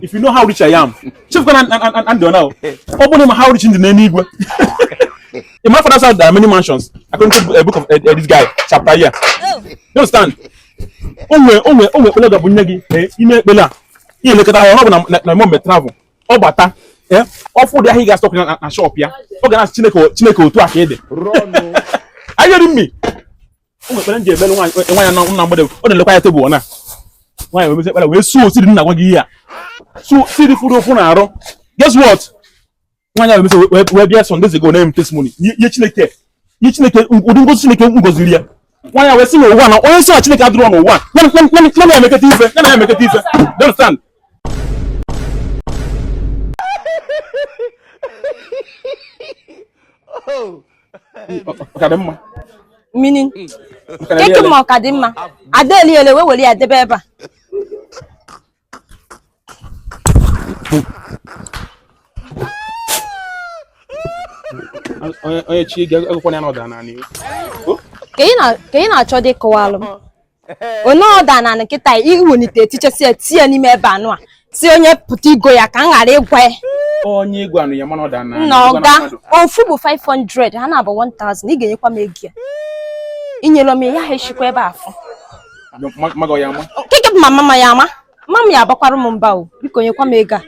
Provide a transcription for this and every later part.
if you know how rich I am chefukwa na ndị ọ na ọ bụ na ị ma how rich m dị n'enuigwe in my father's house there are many mansions according to a book of uh, this guy chapter here oh. you understand o nwere o nwere o nwere ekpele ga-ebunye gị i mee ekpele a ihe elekọta ahụ ọ bụ na na mọmbe travel ọ bata ọ fụ ụdị ahịa ị ga-asọpụ na shop ya ọ ga na-asị chineke chineke otu a ka ị dị are you hearing me o nwe ekpere m je ekpere nwaanyị e, nwaanyị na na mgbede ọ na-elekwa ya table na nwaanyị wee mezi ekpere wee sow seed m na-agwa gị ihe a sow seed fụrụ ụfụ n'arụ guess what nwaanyị ahụ emesịa wee bịa some days ago na-eme testimony ihe chineke ihe chineke ụdị ngozi chineke gọziri ya nwaanyị wee sị na ụwa na onye sị na chineke adịrọ n'ụwa ya na emeketa ife ya na emeketa ife you understand oh. meaning keke ma ọ ka dị mma ada eliele wee were ya debe ebe a onye chi ga-agụkwana ya na ọ daa n'anị ka ị na-achọdị ịkọwalụ m onye ọ daa n'anị kịta i welite tichesie tie ya n'ime ebe anụwa sị onye pụta igo ya ka m ghara ịgwa ya onye ị gwanụ ya mana ọ daa n'anị ọga ofu bụ 500 ha naabọ 1000 ị ga-enyekwa m ego ya i nyerọ m ya ha echikwa ebe afọ keke bụ mama m ya-a mama m ya-abakwara m mba o biko nyekwa m ego a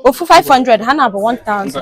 ofu 500 ha naabọ 1000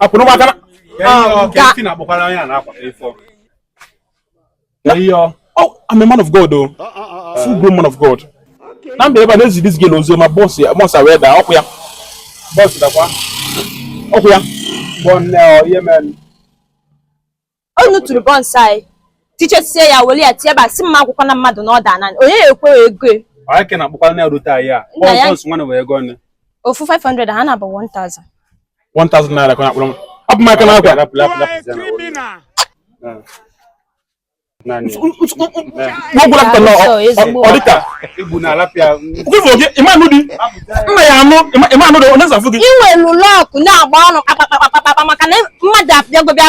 akwụrụ m akara oh, I'm a man of God o oh. ah, ah, ah, full grown man of God na m bịa ebe a na-ezi this girl ozi ọma buns ya buns wee daa okay buns dakwa okay ọ bụ nne ọ ihe mere ọ tụtụrụ buns n'anị tichesie ya were ya tie ebe a sị m agwakwana mmadụ na ọ daa n'anị onye ya-akwụ ego e? onye ka na-akpọkwa na rute anyị a buns nwanne wee ego ọnụ ofu 500 ha naabọ 1000 1000 naira ka na-akpọrọ m abụ m aka n'akwa ịmanụ di nna ya anụ ịmanụ dị ọ na-ezafu gị i nwelụ luck na-agba ọnụ kpakpakpakpakpa maka na mmadụ abịago bịa